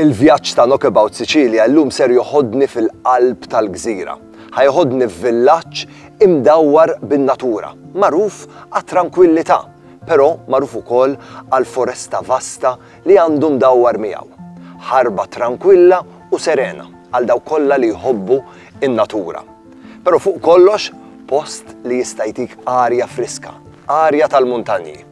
Il-vjaġġ ta' Knockabout Sicilia llum ser joħodni fil-qalb tal-gżira. Ħa joħodni f'villaġġ imdawwar bin-natura, magħruf għat-trankwillità, però magħruf ukoll għall-foresta vasta li għandu mdawwar miegħu. Ħarba trankwilla u serena għal dawk kollha li jħobbu n-natura. Però fuq kollox, post li jista' jtik arja friska, arja tal-muntanji.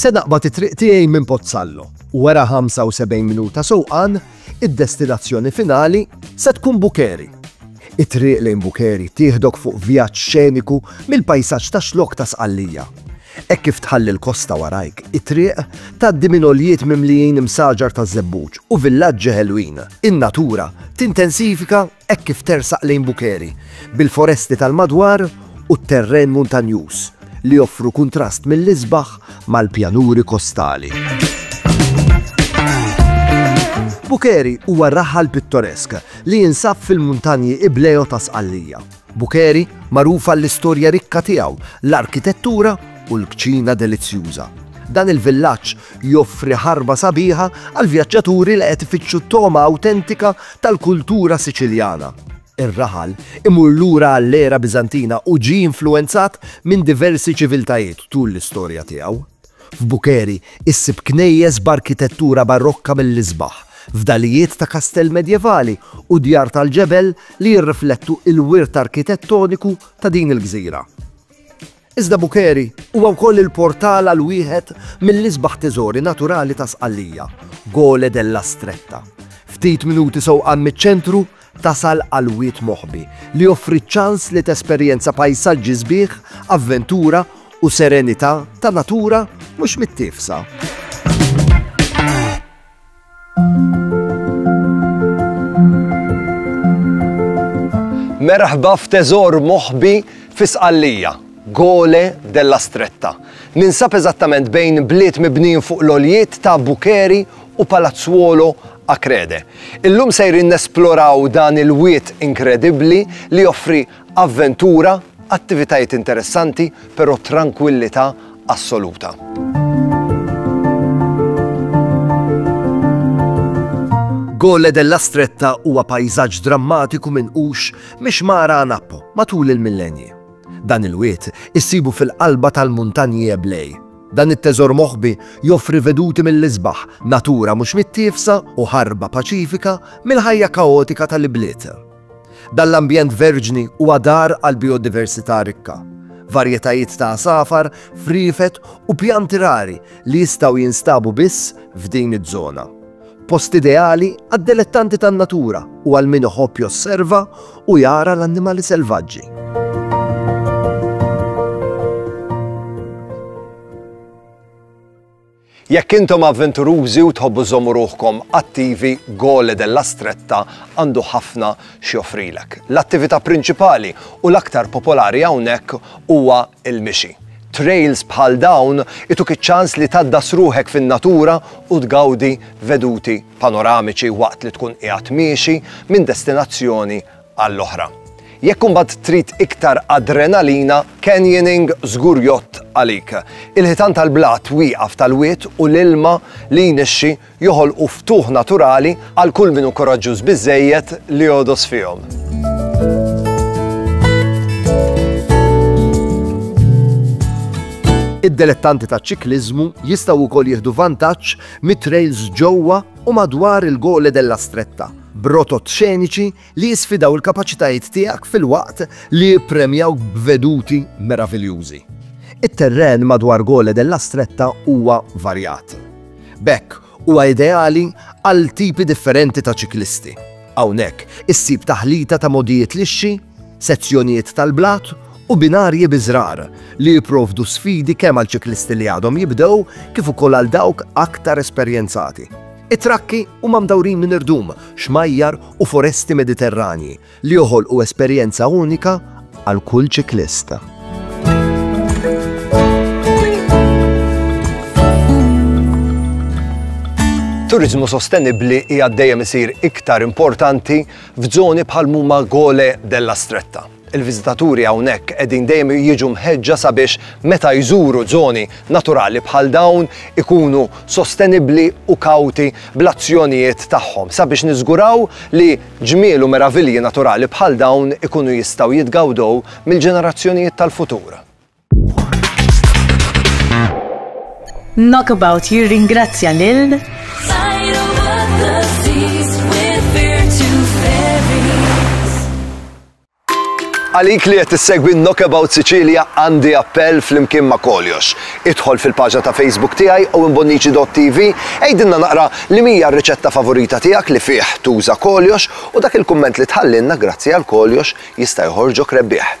Se naqbad it-triq tiegħi minn Pozzallo u wara 75 minuta sewqan id-destinazzjoni finali se tkun Bukeri. It-triq lejn Bukeri tieħdok fuq vjaġġ xeniku mill-pajsaġġ ta' xlok ta' Sqallija. Hekk kif tħalli l-kosta warajk, it-triq tgħaddi minn oljiet mimlijin imsaġar ta' żebbuġ u villaġġi ħelwin. In-natura tintensifika Hekk kif tersaq lejn Bukheri, bil-foresti tal-madwar u t-terren muntanjuż li joffru kuntrast mill-isbaħ mal-pjanuri kostali. Bukheri huwa raħal pittoresk li jinsab fil-muntanji Ibleo ta' Sqallija. Bukheri magħruf għall-istorja rikka tiegħu, l-arkitettura u l-kċina delizzjuża. Dan il-villaġġ Joffri ħarba sabiħa għall-vjaġġaturi li qed ifittxu togħma awtentika tal-kultura Siċiljana. Ir-raħal imur lura għall-era Biżantina u ġie influwenzat minn diversi ċiviltajiet tul l-istorja tiegħu. F'Bukheri issib knejjes b'arkitettura Barokka mill-isbaħ, fdalijiet ta' kastell medjevali u djar tal-ġebel li jirriflettu l-wirt arkitettoniku ta' din il-gżira. Iżda Bukeri huwa wkoll il-portal għal wieħed mill-isbaħ teżori naturali ta' Sqallija, Gole della Stretta. Ftit minuti sewqan miċ-ċentru, tasal għal Wied Moħbi, li joffri ċ-ċans li tesperjenza pajsaġġi sbieħ, avventura u serenità ta' natura mhux mittiefsa. Merħba f'teżor moħbi fi Sqallija, Gole della Stretta. Ninsab eżattament bejn bliet mibnin fuq l-oljiet ta' Bukeri u Palazzuolo Akrede. Illum sejrin nesploraw dan il-wiet inkredibbli li joffri Avventura, attivitajiet interessanti, però trankwillità assoluta. Gole della Stretta huwa pajzaġġ drammatiku minn hux miex mara Anappo matul il-millenji. Dan il-wiet issibu fil-qalba tal-muntanji Eblej. Dan it-teżor moħbi joffri veduti mill-isbaħ, natura mhux mittifsa u ħarba paċifika mill-ħajja kaotika tal-ibliet. Dan l-ambjent verġni huwa dar għal bijodiversità rikka, varjetajiet ta' għasafar, friefet u pjanti rari li jistgħu jinstabu biss f'din iż-żona. Post ideali għad-delettanti tan-natura u għal min iħobb josserva u jara l-annimali selvaġġi. Jekk intom avventurużi u tħobbu żżommu ruħkom attivi, Gole della Stretta għandu ħafna x'joffrilek. L-attività prinċipali u l-aktar popolari hawnhekk huwa l-mixi. Trails bħal dawn ituk iċ-ċans li tgħaddas ruħek fin-natura u tgawdi veduti panoramiċi waqt li tkun qiegħed miexi minn destinazzjoni għall-oħra. Jekk imbagħad trid iktar adrenalina, canyoning żgur jgħodd għalik. Il-ħitan tal-blat wieqaf tal-wied u l-ilma li jnixxi joħolqu ftuħ naturali għal kull min hu kuraġġuż biżżejjed li jogħdos fihom. Id-delettanti ta' ċikliżmu jistgħu wkoll jieħdu vantaġġ mit-trails ġewwa u madwar il-Gole della Stretta b'rotot xeniċi li jisfidaw il-kapaċitajiet tiegħek filwaqt li jippremjawk b'veduti meraviljużi. It-terren madwar Gole della Stretta huwa varjat. B'hekk, huwa ideali għal tipi differenti ta' ċiklisti. Hawnhekk issib taħlita ta' mogħdijiet lixxi, sezzjonijiet tal-blat u binarji biżgħar li jipprovdu sfidi kemm għal ċiklisti li għadhom jibdew kif ukoll għal dawk aktar esperjenzati. It-trakki huma mdawrin minn irdum, xmajjar u foresti Mediterranji li joħolqu esperjenza unika għal kull ċiklist. Turiżmu sostenibbli hija dejjem isir iktar importanti f'żoni bħal huma Gole della Stretta. Il-viżitaturi hawnhekk qegħdin dejjem jiġu mħeġġa sabiex meta jżuru żoni naturali bħal dawn ikunu sostenibbli u kawti bl-azzjonijiet tagħhom sabiex niżguraw li ġmiel u meravilji naturali bħal dawn ikunu jistgħu jitgawdew mill-ġenerazzjonijiet tal-futur. Knockabout jirringrazzja lil Għalik li qed issegwi Knockabout Sicilia għandi appell flimkien ma' koljox. Idħol fil-paġna ta' Facebook tiegħi u imbonnici.tv għidinna naqra li mija r-riċetta favorita tiegħek li fih tuża koljox u dak il-kumment li tħallinna grazzi għal koljox jista' joħorġok rebbieħ.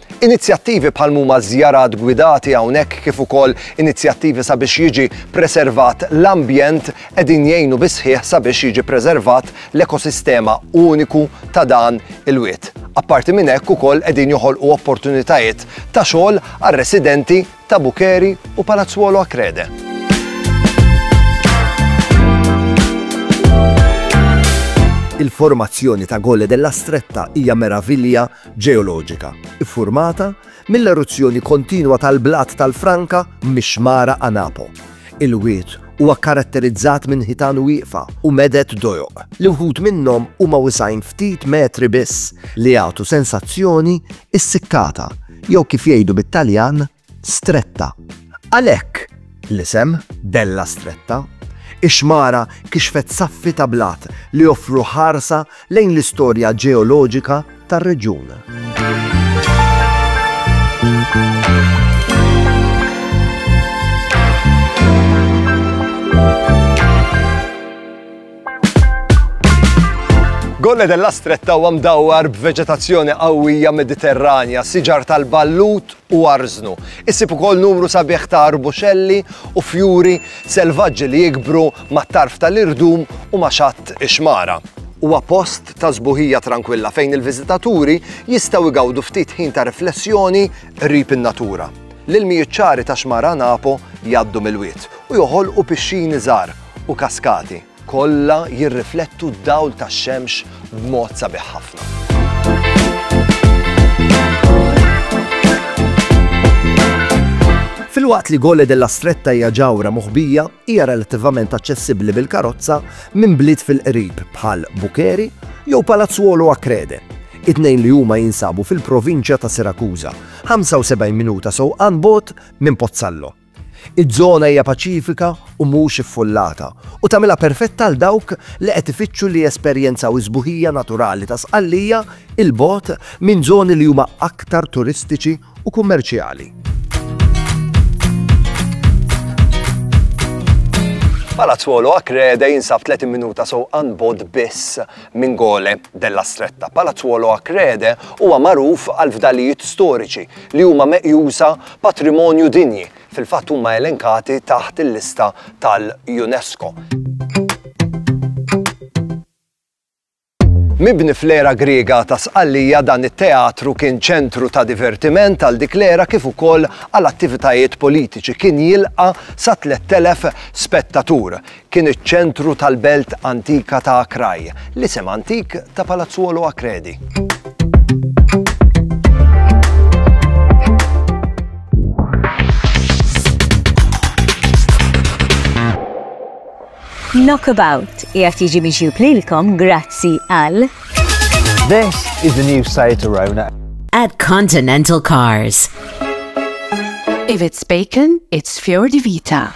Inizjattivi bħal mhuma żjarat gwidati hawnhekk kif ukoll inizjattivi sabiex jiġi preservat l-ambjent qegħdin jgħinu bis-sħiħ sabiex jiġi preservat l-ekosistema uniku ta' dan il-wied. Apparti minn hekk ukoll qegħdin joħolqu opportunitajiet ta' xogħol għar-residenti ta' Bukeri u Palazzuolo Acrede. Il-formazzjoni ta' Gole della Stretta hija meravilja ġeoloġika ffurmata mill-eruzzjoni kontinwa tal-blat tal-franka mix-xmara Anapo. Il-wied huwa kkaratterizzat minn ħitan wieqfa u meded dojoq, li wħud minnhom huma wisgħin ftit metri biss, li jagħtu sensazzjoni issikkata, jew kif jgħidu bit-Taljan, Stretta. Għalhekk l-isem Della Stretta. Ix-xmara kixfet saffi ta' blat li joffru ħarsa lejn l-istorja ġeoloġika tar-reġjun. Golle della Stretta huwa mdawwar b'veġetazzjoni qawwija Mediterranja, siġar tal-ballut u arżnu. Issib ukoll numru sabiħ ta' arbuxelli u fjuri selvaġġi li jikbru mat-tarf tal-irdum u ma' xatt ix-xmara. Huwa post ta' sbuħija trankwilla fejn il-viżitaturi jistgħu jgawdu ftit ħin ta' riflessjoni qrib in-natura. L-ilmijiet ċari ta' Xmara Napo jgħaddu mill-wied u joħolqu pixxini żgħar u kaskati. Kollha jirriflettu d-dawl tax-xemx b'mod sabiħ ħafna. Filwaqt li Gole della Stretta hija ġawra moħbija, hija relattivament aċċessibbli bil-karozza minn bliet fil-qrib bħal Bukeri jew Palazzuolo Akrede. It-tnejn li huma jinsabu fil-provinċja ta' Sirakuża, 75 minuta sewqan bot minn Pozzallo. Iż-żona hija paċifika u mhux iffullata, u tagħmilha perfetta għal dawk li qed ifittxu li jesperjenzaw is-sbuħija naturali ta' Sqallija 'il bogħod minn żoni li huma aktar turistiċi u kummerċjali. Palazzolo Acrede jinsab 30 minuta sewqan bod biss minn Gole della Stretta. Palazzolo Acrede huwa magħruf għal fdalijiet storiċi li huma meqjusa patrimonju dinji, fil-fatt huma elenkati taħt il-lista tal-UNESCO. Mibni fl-era Griega ta' Sqallija, dan it-teatru kien ċentru ta' divertiment għal dik l-era kif ukoll għal attivitajiet politiċi. Kien jilqa' sa 3,000 spettatur. Kien iċ-ċentru tal-belt antika ta' Acrae, l-isem antik ta' Palazzuolo Acredi. Knockabout jgħat jiġi miġjub lilkom grazzi għal. This is the new site Arona. At Continental Cars. If it's bacon, it's Fior di Vita.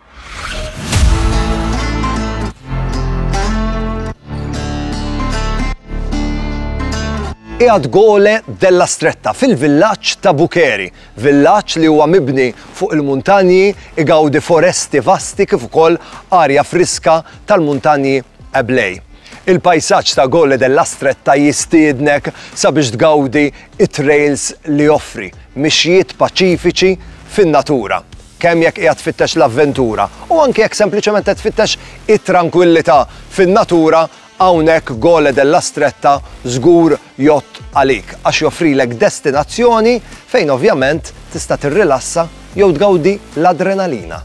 Qiegħed Gole della Stretta fil-villaġġ ta' Bukeri, villaġġ li huwa mibni fuq il-muntanji, igawdi foresti vasti kif ukoll arja friska tal-muntanji Eblej. Il-pajsaġġ ta' Gole della Stretta jistiednek sabiex tgawdi it-trails li joffri, mixjiet paċifiċi fin-natura. kemm jekk qiegħed tfittex l-avventura u anke jekk sempliċement qed tfittex it-trankwillità fin-natura, hawnhekk Gole della Stretta żgur jgħodd għalik għax joffrilek destinazzjoni fejn ovvjament tista' tirrilassa jew tgawdi l-adrenalina.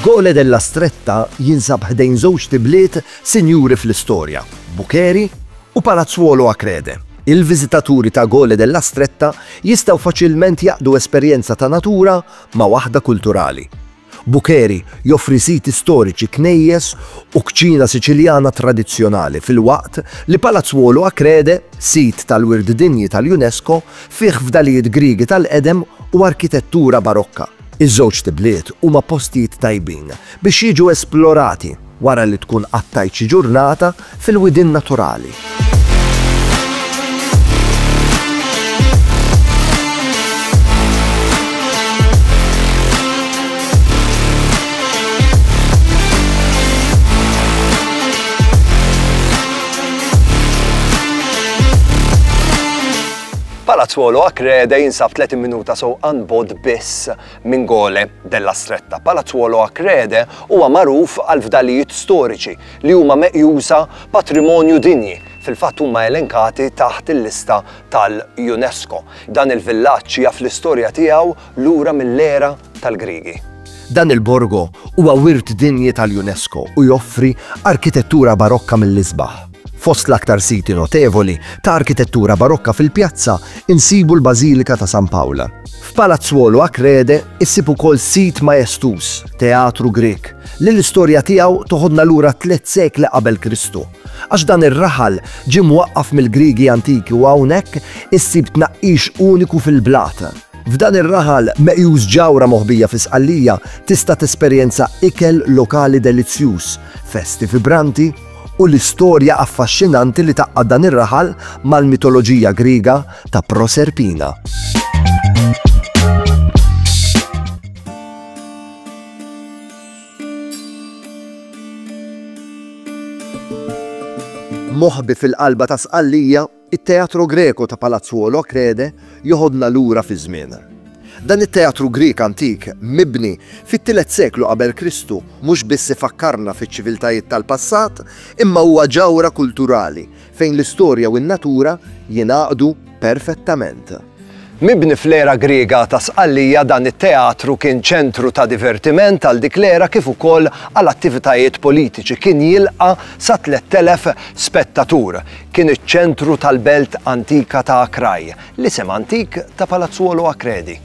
Gole della Stretta jinsab ħdejn żewġt ibliet sinjuri fl-istorja, Bucheri u Palazzuolo Acrede. Il-viżitaturi ta' Gole della Stretta jistgħu faċilment jgħaqqdu esperjenza ta' natura ma' waħda kulturali. Buccheri joffri siti storiċi, knejjes u kċina Siċiljana tradizzjonali filwaqt li Palazzuolo Acrede, sit tal-Wirt Dinji tal-UNESCO, fih fdalijiet Griegi tal-qedem u arkitettura Barokka. Iż-żewġt ibliet huma postijiet tajbin biex jiġu esplorati. Wara li tkun qattajt xi ġurnata fil-widien naturali. Palazzuolo Acrede jinsab 30 minuta sewqan bogħod biss Mingole della Stretta. Palazzuolo a Crede huwa magħruf għall-fdalijiet storiċi li huma meqjusa patrimonju dinji, fil-fatt huma elenkati taħt il-lista tal-UNESCO. Dan il-villaġġ jaf l-istorja tiegħu lura mill-era tal-Griegi. Dan il-borgo huwa Wirt Dinji tal-UNESCO u joffri arkitettura Barokka mill-isbaħ. Fost l-aktar siti notevoli ta' arkitettura Barokka fil-pjazza nsibu l-Bażilika ta' San Pawl. F'Palazzuolo Achrede issib ukoll sit maestuż, teatru Grieg, li l-istorja tiegħu toħodna lura tliet sekli qabel Kristu, għax dan ir-raħal ġie mwaqqaf mill-Griegi antiki u hawnhekk issib tnaqqix uniku fil-blat. F'dan ir-raħal meqjus ġawra moħbija fi Sqallija tista' tesperjenza ikel lokali delizzjuż, festi vibranti, u l-istorja affaxxinanti li tgħaqqad dan ir-raħal mal-mitoloġija Griega ta' Proserpina. Moħbi fil-qalba ta' Sqallija It-Teatro Greco ta' Palazzuolo Achrede joħodna lura fiż-żmien. Dan it-teatru Grieg antik, mibni fit-tielet seklu qabel Kristu, mhux biss ifakkarna fiċ-ċiviltajiet tal-passat, imma huwa ġawhra kulturali fejn l-istorja u n-natura jingħaqdu perfettament. Mibni fl-era Griega ta' Sqallija, dan it-teatru kien ċentru ta' divertiment għal dik l-era kif ukoll għal attivitajiet politiċi. Kien jilqa' sa 3,000 spettatur. Kien iċ-ċentru tal-belt antika ta' Akrae, l-isem antik ta' Palazzuolo Akredi.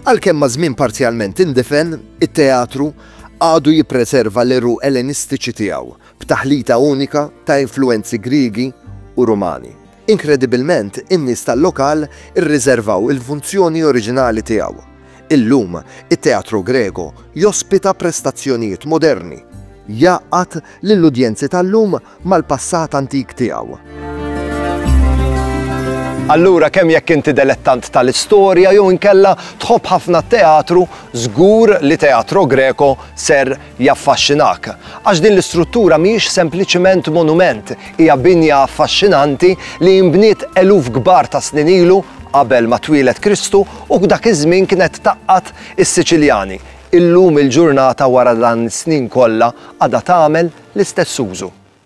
Għalkemm maż-żmien parzjalment indifen, it-teatru għadu jippreserva l-għeruq Ellenistiċi tiegħu. b'taħlita unika ta' influwenzi Griegi u Rumani. Inkredibilment, in-nies tal-lokal irriżervaw il-funzjoni oriġinali tiegħu. Illum, it-Teatro Greco jospita prestazzjonijiet moderni, jgħaqqad lill-udjenzi tal-lum mal-passat antik tiegħu. Allura kemm jekk inti delettant tal-istorja jew inkella tħobb ħafna t-teatru, żgur li Teatro Greco ser jaffaxxinak, għax din l-istruttura mhijiex sempliċement monument, hija binja affaxxinanti li inbniet eluf kbar ta' snin ilu qabel ma twieled Kristu u f'dak iż-żmien kienet tgħaqqad is-Siċiljani. Illum il-ġurnata wara dan is-snin kollha għadha tagħmel l-istess użu.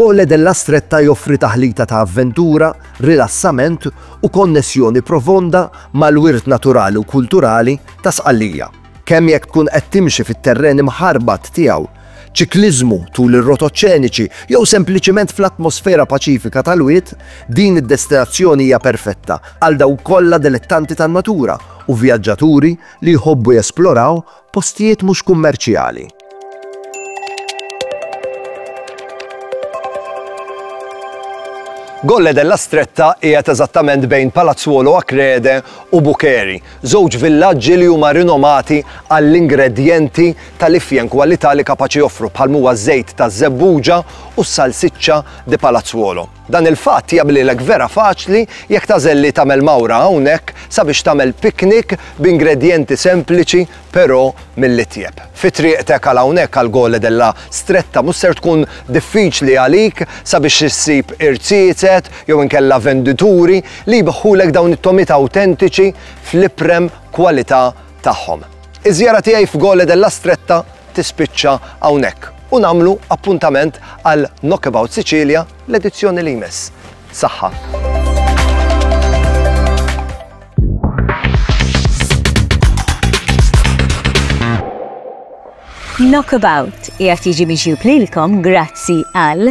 Gole della Stretta joffri taħlita ta' avventura, rilassament u konnessjoni profonda mal-wirt naturali u kulturali ta' Sqallija. Kemm jekk tkun qed timxi fit-terren imħarbat tiegħu, ċikliżmu tul ir-rotot ċeniċi jew sempliċiment fl-atmosfera paċifika tal-wied, din id-destinazzjoni hija perfetta għal dawk kollha delettanti tan-natura u vjaġġaturi li jħobbu jesploraw postijiet mhux kummerċjali. Colle della Stretta qiegħed eżattament bejn Palazzuolo Acrede u Bucheri, żewġ villaġġi li huma rinomati għall-ingredjenti tal-ifjen kwalità li kapaċi joffru bħal huwa ż-żejt taż-żebbuġa u s-salsiċċa di Palazzuolo. Dan il-fatt jagħmlilek vera faċli jekk tagħżel li tagħmel mawra hawnhekk sabiex tagħmel piknik b'ingredjenti sempliċi però mill-itjeb. Fi triqtek għal hawnhekk għal Gole della Stretta mhux ser tkun diffiċli għalik sabiex issib irziezet jew inkella vendituri li jbiħħulek dawn it-togħmiet awtentiċi fl-iprem kwalità tagħhom. Iż-żjara tiegħi f'Gole della Stretta tispiċċa hawnhekk u nagħmlu appuntament għal Knockabout Sicilia l-edizzjoni li jmiss. Saħħa! Knockabout jgħat jiġi miġjub lilkom grazzi għal